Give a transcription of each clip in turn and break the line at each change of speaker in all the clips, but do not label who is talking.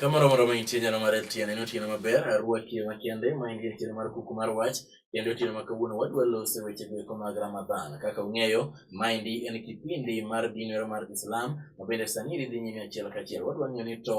Kamoro moro ma intie nyalo mar LTN en otieno maber, arwaki makende ma en otieno mar kuku mar wach kendo otieno ma kawuono wadwa lose weche go eko mag Ramadhan. Kaka ung'eyo, maendi en kipindi mar dinero mar Islam ma bende sani dhi nyime achiel kachiel. Wadwa ng'eyo ni to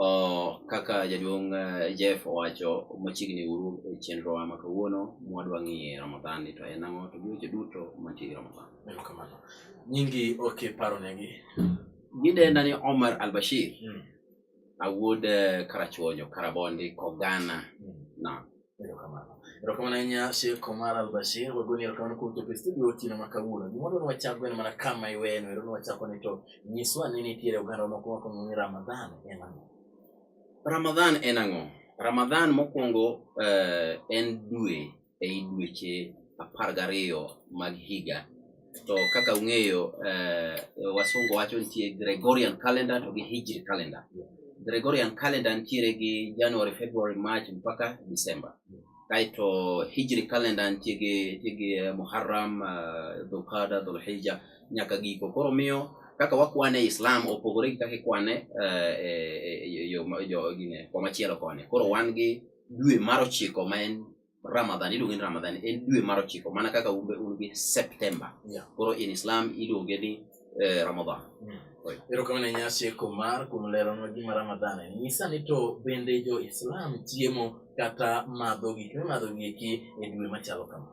Oh, kaka jaduong' eh, Jeff owacho machiegni uru e chenrowa ma kawuono mwadwa ng'iye Ramadhan ni to en ang'o to giweche duto mantie gi Ramadhan. Erokamano.
Nyingi ok iparonegi. Gidenda
ni Omar Al-Bashir, Mm. awuod eh, Karachuonyo, Karabondi, Kogana. Mm. Naam. Erokamano.
Erokamano ahinya Sheikh Omar Al-Bashir, wagoni erokamano kuom chopo e studio otieno ma kawuono. Gimoro ne wachako gweno mana kama iweno, ero ne wachako ni to nyiswa ni nitiere oganda moko makongo ni Ramadhan en ang'o? Ramadhan
en ang'o? Ramadhan mokwongo eh, en dwe ei dweche apar gariyo mag higa To kaka ung'eyo eh, wasungu wacho nitie Gregorian calendar to gi Hijri calendar. Gregorian calendar nitiere gi January, February, March mpaka December. Kaeto Hijri calendar nitie gi nitie gi eh, Muharram, eh, Dhulqada, Dhulhijja nyaka giko. Koro miyo kaka wakwane e Islam opogore gi kaka ikwane eh, eh, eh, yo ma- jo gine komachielo koni. Koro wan gi dwe mar ochiko ma en Ramadhan iluonge ni Ramadhan en dwe mar ochiko mana kaka un be un gi September. Yeah. Koro in Islam iluonge ni eh, Ramadhan. Oi. Erokamano
ahinya Sheikh Omar kuom leronwa gima Ramadhan en. Nyisa ni to bende jo Islam chiemo kata madho gik mimadho gi eki e dwe machalo kama.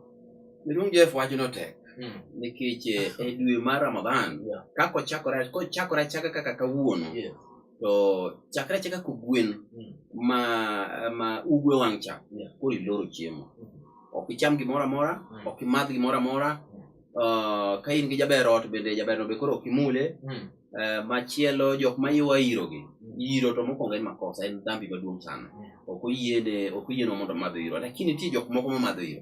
Miluong Jeff
wacho no tek Mm. nikech eh, e dwe mar Ramadhan Yeah. kaka ochakore kochakore achaka kaka kawuono Yeah. to chakre achaka kogwen mm. ma ma ugwe wang' cha koro iloro chiemo mm. ok icham gimoro amora mm. ok imadh gimoro amora uh, ka in gi jaber ot bende jaberno be koro ok imule uh, machielo jok ma iwa irogi iro to mokwongo en makosa en dhambi maduong' sana ok oyiene ok oyienwa mondo madho iro lakini nitie jok moko mamadho iro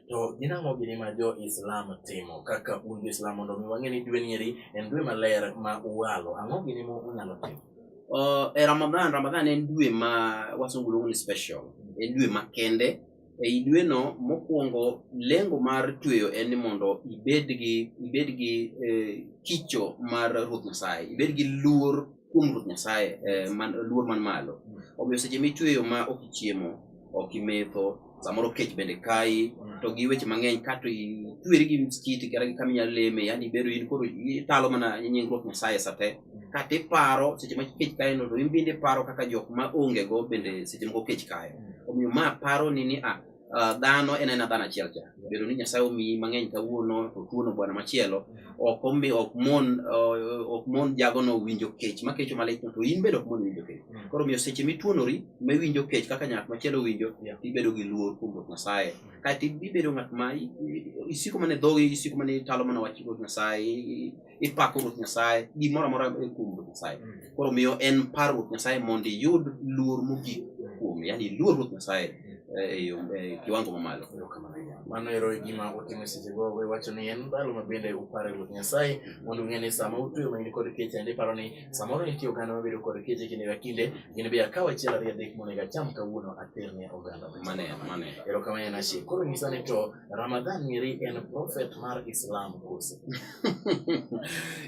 To gin ang'o gini ma jo Islam timo kaka un jo Islam mondo mi wang'e ni dwe nieri en dwe maler ma uwalo ang'o gini ma unyalo timo? Uh, e
Ramadhan, Ramadhan en dwe ma wasungu luongo ni special, en dwe makende. Ei dweno mokwongo lengo mar tweyo en ni mondo ibed gi ibed gi eh, kicho mar Ruoth Nyasaye, ibed gi luor kuom Ruoth Nyasaye, eh, man, luor man malo. Omiyo seche mitweyo ma ok ichiemo, ok imetho, samoro kech bende kayi mm. to gi weche mang'eny kato itweri gi msikiti kata gi kama inyalo leme yani ibedo in koro italo mana nyingruok nyasaye sa te mm. kata iparo seche ma kech kayo no to in bende iparo kaka jok ma onge go bende seche moko kech kayo mm. omiyo ma paro ni ni a ah, ah, dhano en ena dhano achiel cha bedo ni nyasaye omiyi mang'eny kawuono to tuono bwana machielo ok omi ok mon eh, ok mon jagono winjo kech ma kecho malich to in bende ok mon winjo kech mm. koro miyo seche mituonori ma iwinjo kech kaka nyak machielo winjo ibedo gi luor kuom ruoth nyasaye mm. kaeto ibedo ng'at ma isiko mana dhogi isiko mana italo mana wach ruoth nyasaye ipako ruoth nyasaye gimoro amora e kuom ruoth nyasaye mm. koro miyo en par ruoth nyasaye mondo iyud luor mogik kuome yani iluor ruoth nyasaye eh, e yo e kiwango mamalo mano ero
e gima otimo seche go we wacho ni en ndalo ma bende upare ruoth nyasaye mondo ung'e ni sama utuyo ma in kod keche ande paro ni samoro nitie oganda mabedo kod keche kinde ka kinde gin be akaw achiel ariyo adek monego acham kawuono ater ne oganda mane mane ero
kama en achiel
koro nyisa ni to ramadhan ng'eri en prophet mar islam kose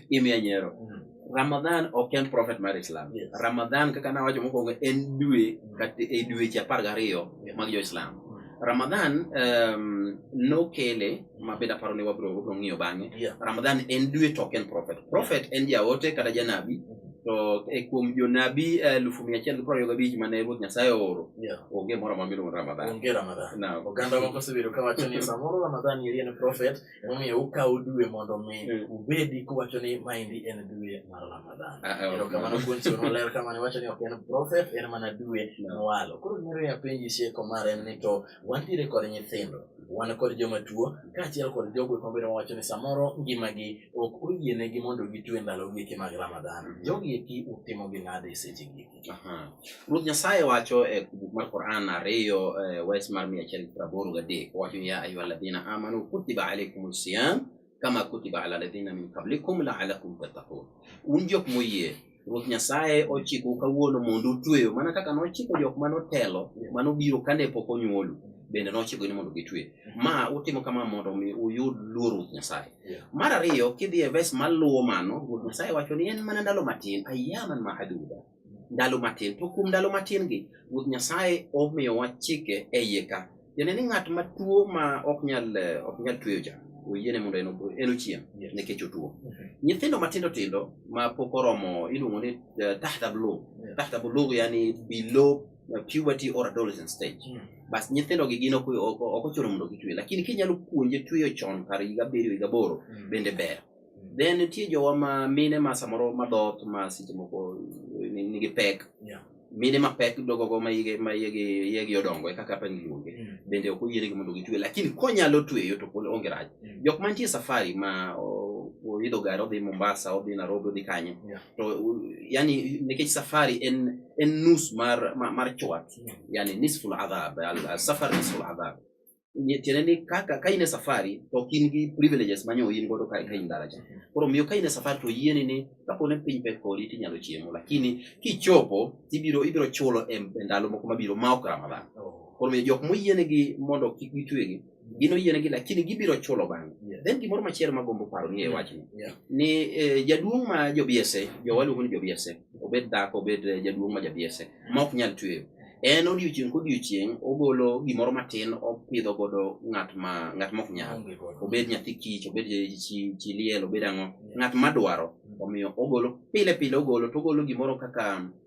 imiya nyero Mm. Ramadhan ok en prophet mar Islam. Yes. Ramadhan kaka nawacho mokwongo en dwe kata e dweche apar gariyo mag jo-Islam. Ramadhan um, nokele mabed aparo ni wabro wabro ng'iyo bang'e. Yeah. Ramadhan en dwe to ok en prophet. Prophet en jaote kata janabi to e kuom jonabi elufu mia achiel gi piero ariyo gabich mane Ruoth Nyasaye ooro Yeah. onge moro amora miluongo ni Ramadhan. Onge Ramadhan. Naam.
Oganda moko osebedo kawacho ni samoro Ramadhan eri en prophet Emomiyo ukawo dwe mondo mi mm. ubedi kuwacho ni maendi en dwe mar Ramadhan. Ah, ah, Ero kamano kuon chiwo noler kamano iwacho ni ok en prophet en mana dwe mwalo. Koro gimiro ya penji sieko mar en ni to wantiere kod nyithindo wan kod joma tuo kaachiel kod jogo mabedo mawacho ni samoro ngimagi ok oyienegi mondo gitwe ndalo gieki mag Ramadhan. Mm. Jogi eki utimogi nade sechegi? Ruoth Nyasaye
wacho e buk mar Quran ariyo e, wes mar mia achiel gi piero aboro gadek owacho ya ayuha alladhina amanu kutiba alaikum siyam kama kutiba ala alladhina min qablikum laalakum tattaqun, un jok moyie Ruoth Nyasaye ochiko kawuono mondo utweyo mana kaka nochiko jok mane otelo mane obiro kane pok onyuolu bende nochiko ni mondo gitwe. Ma utimo kama mondo mi uyud luor Ruoth Nyasaye. Mar ariyo kidhi e ves maluwo mano, Ruoth Nyasaye wacho ni en mana ndalo matin, ayaman mahaduda. Ndalo matin. To kuom ndalo matin gi, Ruoth Nyasaye omiyowa chike e iye ka. Tiende ni ng'at ma tuo ma ok nyal eh, ok nyal tweyo cha, oyiene mondo en opo- en ochiem Yes. nikech otuo. Nyithindo matindo tindo ma pok oromo iluongo ni eh, tahta bulugh. Yeah. Tahta bulugh yani below puberty or adolescent stage mm. bas nyithindo gi gin ok ochuno mondo gitwe lakini kinyalo puonje tweyo chon kar higa abiriyo higa aboro mm. bende ber mm. then nitie jowa ma mine ma samoro madhoth ma seche moko eh, nigi pek yeah. mine ma pek dogogo ma yegi odongo e kaka apani luonge mm. bende ok oyienegi mondo gitwe lakini konyalo tweyo to pod onge rach mm. jok mantie safari ma oidho gari odhi mombasa odhi nairobi odhi kanye yeah. to yani nekech safari en en nus mar mar chwat yani nisful adhab al safar nisful adhab tiende ni kaka ka in e safari to ok in gi privileges manyo in godo ka in dala cha koro miyo ka in e safari to yieni ni kapo ne piny pek kodi tinyalo chiemo lakini kichopo ibiro ibiro chulo e ndalo moko mabiro ma ok ramadhan koro miyo jok moyienegi mondo kik gitwegi gin oyienegi lakini gibiro chulo bang'e yeah. then gimoro machielo magombo paro ni e wachni yeah. ni eh, jaduong' ma jobiese jowaluongo ni jobiese obed dhako obed eh, jaduong' ma jabiese ma ok nyal tweyo en odiochieng' kodiochieng' ogolo gimoro matin opidho godo ng'at ma ng'at mok nyal obed nyathi kich obed chiliel obed ang'o ng'at madwaro omiyo ogolo pile pile ogolo to ogolo gimoro kaka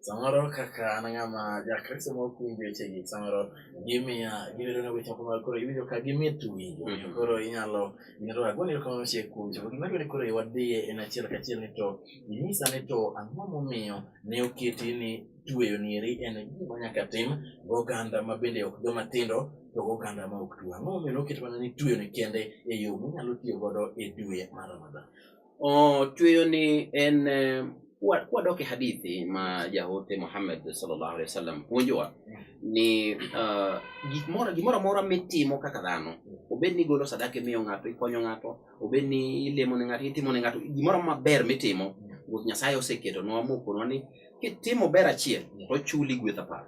samoro kaka an ng'ama jakristo ma okuwinjo wechegi samoro gimiya gibedo na weche moko ma koro iwinjo ka gimit winjo Mhm. koro inyalo inyalo agoni erokamano machiek kuom chopo gima dwani koro wadhiye en achiel kachiel ni to inyisa ni to ang'o momiyo ne oketi ni tweyo nieri en gima nyaka tim goganda ma bende ok joma tindo to goganda ma ok tuo ang'o momiyo ne oket mana ni tweyo ni kende e yo minyalo tiyo godo e dwe mar ramadhan Ochueyo
ni en eh, kwadoke hadithi ma jaote Muhammad sallallahu alaihi wasallam puonjowa ni uh, gimoro gimoro amora mitimo kaka dhano obed ni igolo sadaka imiyo ng'ato ikonyo ng'ato obed ni ilemo ne ng'ato itimo ne ng'ato gimoro maber mitimo ruoth nyasaye oseketonwa mokonwa ni kitimo ber achiel to chuli gweth apar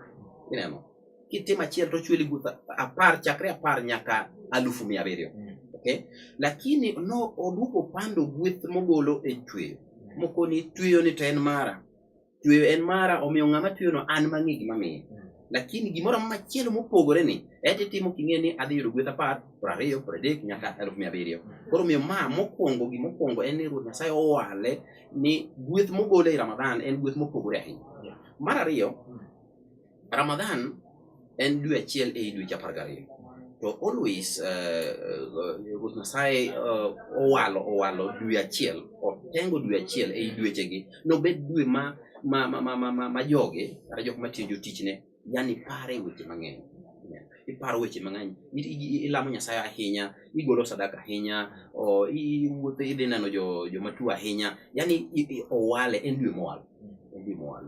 ineno kitimo achiel to chweli guth apar chakre apar nyaka alufu mia abiriyo mm. okay? lakini no oduoko pando gweth mogolo e chweyo mm. moko ni tweyo ni to en mara tweyo en mara omiyo ng'ama tweyono an mang'e gimamiye mm. lakini gimoro amora machielo mopogore ni eti timo king'e ni adhi yudo gweth apar piero ariyo piero adek nyaka alufu mia abiriyo koro omiyo ma mokwongo gimokwongo en ni ruoth nyasaye owale ni gweth mogolo e ramadhan en gweth mopogore ahinya mar ariyo Ramadhan en dwe achiel ei dweche apar gariyo to always eh, eh, Ruoth Nyasaye eh, owalo owalo dwe achiel otengo dwe achiel ei dwechegi nobed dwe ma ma ma ma ma ma joge kata jok matiyo jotichne yani pare weche mang'eny iparo weche mang'eny ilamo Nyasaye ahinya igolo sadaka ahinya iwuotho idhi neno jomatuo ahinya yani owale en dwe mowal en dwe mowal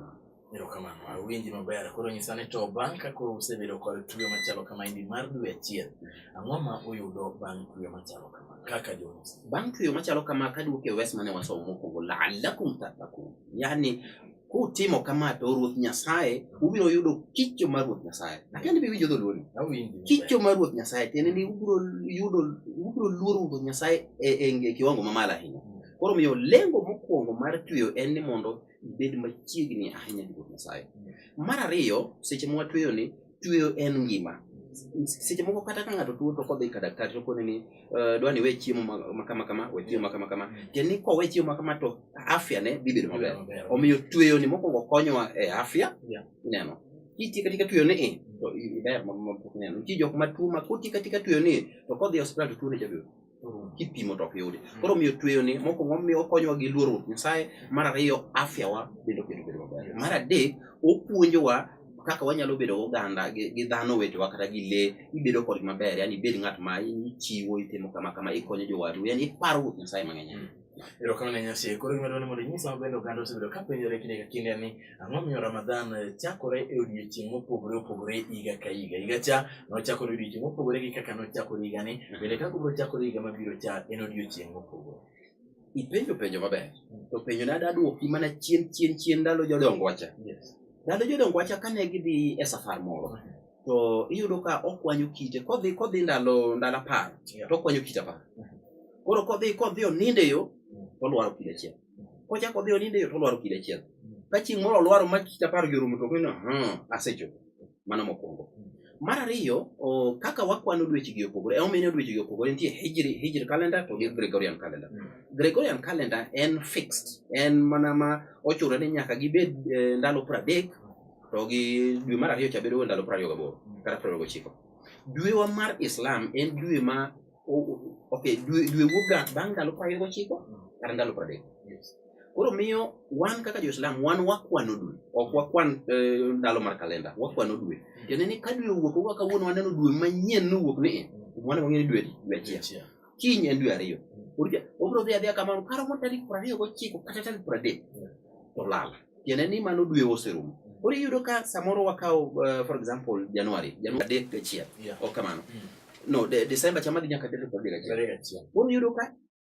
Erokamano, awinji maber. Koro nyisa ni to bang' ka koro usebedo kod tuyo machalo kama indi mar dwe achiel, ang'o ma uyudo bang' tuyo machalo kama kaka Jonas? Bang' tuyo
machalo kama kaduoke e wes mane wasomo mokwongo la'allakum tattaqun. Yaani kutimo kama to Ruoth Nyasaye ubiro yudo kicho mar Ruoth Nyasaye. Akia ni biwinjo dholuoni. Awinji. Kicho mar Ruoth Nyasaye tiende ni ubiro yudo ubiro luoro Ruoth Nyasaye e, e, e kiwango mamalo ahinya. Koro miyo lengo mokwongo mar tuyo en ni mondo ibed machiegni ahinya gi Ruoth Nyasaye. Mar ariyo, seche ma watueyo ni, tueyo en ngima. Seche moko kata ka ng'ato tuo to kodhi ka daktari to kone ni uh, dwani we chiemo ma kama kama, we chiemo ma kama kama. Tiende ni kowe chiemo ma kama to afya ne dhi bedo maber. Omiyo tueyo ni mokwongo konyowa e afya, yeah. ineno. Kitiyo katika tueyo ni to iber ma pok ineno. Nitie jok ma tuo ma kotiyo katika tueyo ni to kodhi e osiptal to tuone jabedo. kipimo to ok yudi mm. koro miyo tweyo ni moko momiyo okonyowa gi luoro ruoth nyasaye mar ariyo afya wa bende oketo bedo maber mar adek opuonjowa kaka wanyalo bedo oganda gi dhano wetewa kata gi lee ibedo kod maber yani ibed ng'at ma ichiwo itimo kama kama ikonyo jowadu yani iparo ruoth nyasaye mang'eny mm. Erokamano ne Nyasaye.
Koro gima dwaro ni mondo inyiswa maber oganda osebedo ka penjore kinde ka kinde ni ang'o momiyo Ramadhan eh, chakore e odiechieng' mopogore opogore higa ka higa. Higa cha nochakore odiechieng' mopogore gi kaka nochakore higani. Bende kaka obiro chakore higa mabiro cha en odiechieng' mopogore. Ipenjo
penjo maber. To penjo ne ada dwoki mana chien chien chien ndalo jodongo wacha. Yes. Ndalo jodongo wacha kane gidhi e safar moro. to iyudo ka okwanyo kite kodhi kodhi ndalo ndalo apar to okwanyo kite apar koro kodhi kodhi oninde yo tolwaro kite achiel kochako odhi oninde yo tolwaro kite achiel ka chieng' moro olwaro ma kite apar gi orumo to ng'eno asechopo mano mokwongo mar ariyo kaka wakwano dwechegi opogore emomiyo dwechegi opogore nitie hijri hijri calendar to gi gregorian calendar mm. gregorian calendar en fixed en mana ma ochurore ni nyaka gibed eh, ndalo pradek to gi dwe mar ariyo cha bedo ndalo piero ariyo gaboro kata piero ariyo gochiko dwewa mar islam en dwe ma ok dwe dwe wuokga bang' ndalo piero ariyo gochiko kata ndalo piero adek koro miyo wan kaka joislam wan wakwano dwe ok wakwan eh, ndalo mar kalenda wakwano dwe tiende ni ka dwe owuok owa kawuono waneno dwe manyien nowuok ni e, wan wang'eyo dwe dwe achiel kiny en dwe ariyo Orija, obiro dhi adhiya kamano karomo tarik piero ariyo gochiko kata tarik piero adek to lal tiende ni mano dwe oserumo koro iyudo ka samoro wakawo uh, for example januari januari adek gachiel Yeah. ok kamano Mm. no de, desemba chama dhi nyaka tarik piero adek gachiel Tarik achiel. koro iyudo ka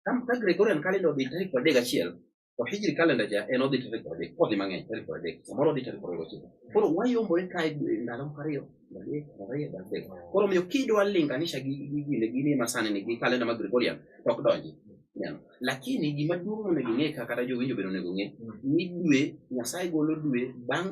ka ka gregorian calendar odhi tarik piero adek gachiel to hijri kalenda ja en odhi tarik piero adek odhi mang'eny tarik piero adek samoro odhi tarik piero ariyo gochiko koro wayombore kae ndalo moko ariyo adek ariyo adek koro miyo kidwa linganisha gi gi gine gini masani ni gi kalenda ma gregorian to ok donji Neno. lakini gima duong' monego ing'e ka kata jowinjo bende onego ong'e ni dwe nyasaye golo dwe bang'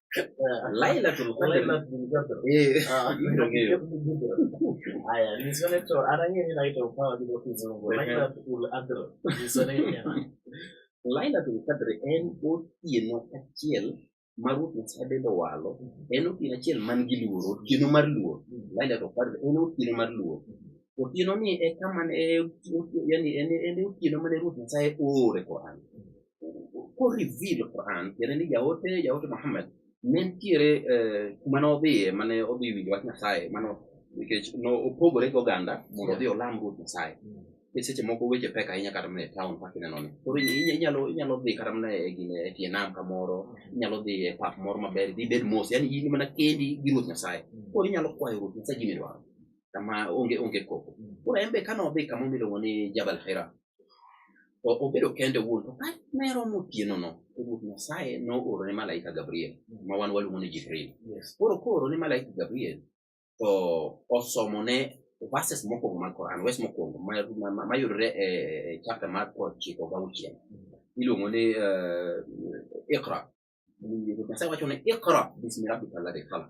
Lailatul Qadr. Lailatul Qadr. Eh. Ah, Ndio hiyo. Haya, ni soneto ana yeye inaitwa
upawa bila kizungu. Lailatul Qadr. Ni soneto yana.
Lailatul Qadr en otieno achiel ma Ruoth Nyasaye bende owalo. En otieno achiel man gi luoro, otieno mar luor. Lailatul Qadr en otieno mar luor. Otieno ni e kama ne yani en en otieno mane Ruoth Nyasaye oore Qur'an. ko reveal Quran tiende ni jaote jaote Muhammad ne nitiere eh, kuma ne odhiye mane odhi winjo wach Nyasaye mano nikech nopogore gi oganda mondo odhi olam Ruoth Nyasaye ni mm. seche moko weche pek ahinya kata mana e town kaka ineno ni koro inyalo inyalo dhi kata mana e gine e tie nam kamoro mm. inyalo dhi e pap moro maber dhi bed mos yani in mana kendi gi Ruoth Nyasaye mm. koro inyalo kwayo Ruoth Nyasaye gimidwaro kama onge onge koko koro en be kane odhi kama miluongo ni Jabal Hira To obedo kende wuon, to kane ne romo otienono, to Ruoth Nyasaye nooro ne malaika Gabriel, ma wan waluongo ni Jibril. Yes. Koro kooro ne malaika Gabriel, to osomone verses mokwongo mag Quran, wes mokwongo ma- ma- ma- mayudore e e chapter mar prochiko gauchiel. Iluongo ni eh, Iqra. Ruoth Nyasaye wacho ni Iqra bismi rabbika alladhi khalaq.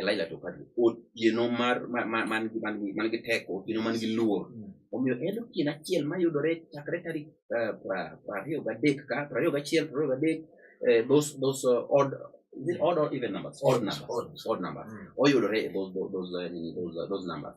Elijah to kadi otieno mar man gi man gi man gi teko otieno man gi luor mm. omiyo en otieno achiel ma yudore chakre tarik eh, prariyo gadek ka prariyo gachiel prariyo gadek eh, those those uh, odd is it odd or even numbers odd numbers odd numbers mm. oyudore those those uh, those uh, those numbers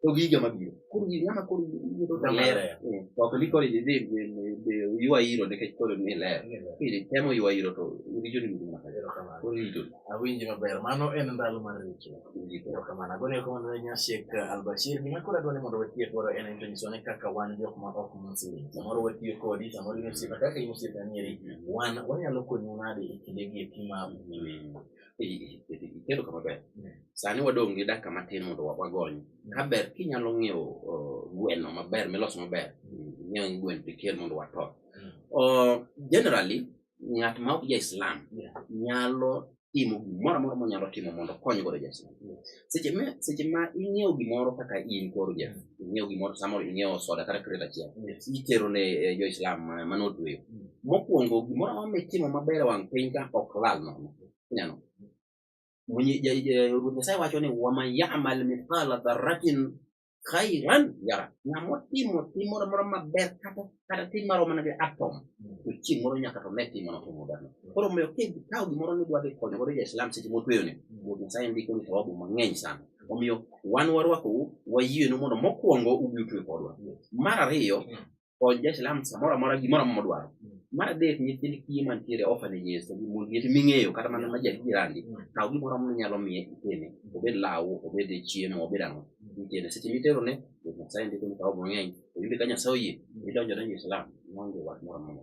to gi higa mabiro koro gini ama koro yudo tamara ok ni koro idhi dhi ywa iro nikech koro ni ler kidhi temo ywa iro to richo ni gima koro richo
awinji maber mano en ndalo mar richo erokamano agone erokamano ne nyasiek albashir gima koro adwa ni mondo watiye koro en en to nyiso ni kaka wan jok ma ok mosini samoro watiyo kodi samoro in osiepa kaka in osiepa nieri wan wanyalo konyi nade e kindegi eki ma wiyi
ikelo kama ber sani wadong' gi dakika matin mondo wagony ka ber kinyalo ng'iewo gweno maber miloso maber ng'iewo gweno tikel mondo wato generally ng'at ma ok ja islam nyalo timo gimoro amora monyalo timo mondo okony godo ja islam seche ma seche ma ing'iewo gimoro kaka in koro ja ing'iewo gimoro samoro ing'iewo soda kata kret achiel Yes. itero ne eh, jo islam ma- mane otweyo Mm. mokwongo gimoro amoro mitimo maber e wang' piny ka ok lal nono inyalo Mwenye- ja- ja- ruoth nyasaye wacho ni waman yamal mithqala dharatin khairan yara ng'amo timo tim moro amora maber kata kata tim maro mana gi atom to chieng' moro nyaka to ne tim mano timo maberno koro omiyo kikawo gimoro ni dwadhi konyo godo ja-islam seche motweyoni wuod nyasaye ndiko ni thawabu mang'eny sana omiyo wan warwakou wayienu mondo mokwongo ubi utwe kodwa mar ariyo kony ja-Islam samoro amora gimoro amora modwaro. Mar adek, nyithind kiye mantiere e orphanages to gi mond liete ming'eyo kata mana ma jadierani, kaw gimoro amora minyalo miye itene, obed law, obed chiemo, obed ang'o, itene. Seche miterone, Ruoth Nyasaye ndiko ni kaw mang'eny, to in be ka Nyasaye oyie, idonjo adonja e Islam, maonge wach moro amora.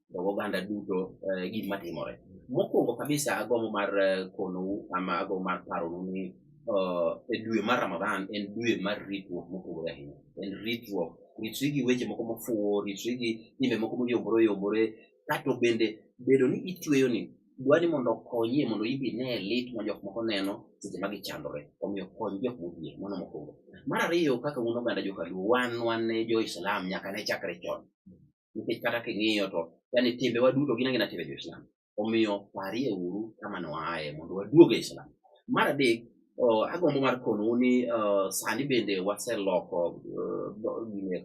to oganda duto eh, gima timore. Mokwongo kabisa agombo mar eh, konou ama agombo mar paronu ni eh, e dwe mar Ramadhan en dwe mar ritruok mopogore ahinya. En ritruok, ritri gi weche moko mofuwo, ritri gi timbe moko moyombore oyombore, kato bende bedo ni itweyo ni dwa ni mondo okonyie mondo ibi ne lit ma jok moko neno seche ma gichandore omiyo kony jok modhier mano mokwongo mar ariyo kaka un oganda jokaluo wan wan ne jo-islam nyaka ne chakre chon nikech kata king'iyo to yani timbewa duto gin angina timbe jo-Islam. Omiyo parie uru kama noaye mondo waduog e Islam. Mar adek, oh, agombo mar konou ni uh, sani bende waseloko uh,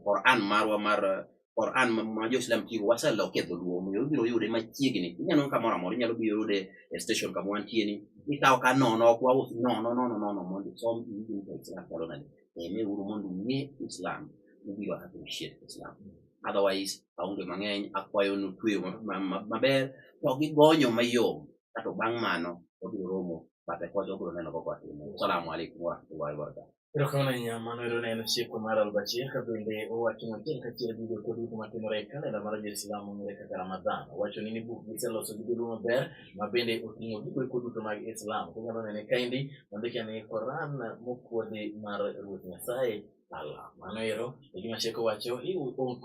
Quran marwa mar Quran ma jo-Islam tigo waseloko e dholuo omiyo ibiro yude machiegni. Inyalo kamoro amora inyalo biro yude e station kama wantie ni ikawo ka nono ok waus nono nono nono mondo isom iwinj ka Islam chalo nade. ng'e uru mondo ung'e Islam ubiro appreciate Islam otherwise aonge mang'eny akwayo nutweyo maber to gigonyo mayom kato bang' mano wabiro romo bate kocha wabiro neno koko atimo salamu alaikum warahmatullahi wabarakatuh Erokamano ahinya mano
ero ne en chiko mar Albashir ka bende owacho matin kachiel gi jokwa duto matimore e kalenda mar Jo-Islam mong'ere kaka Ramadhan. Owacho ni ni buk giseloso gi joluo maber ma bende oting'o gigo eko duto mag Islam. Kunyalo nene kaendi ondike ni Quran mokuodhi mar Ruoth Nyasaye Allah. Mano ero e gima chik owacho,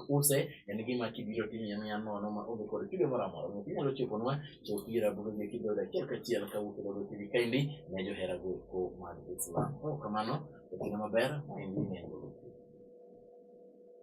use en gima kibiro timiye miya nono ma onge kod kido moro amora. Omiyo kinyalo choponwa to ira buge gi kido achiel kachiel ka wuok e Dogo TV kaendi ne johera go eko mag Islam. Kamano, otieno maber, ma en gima en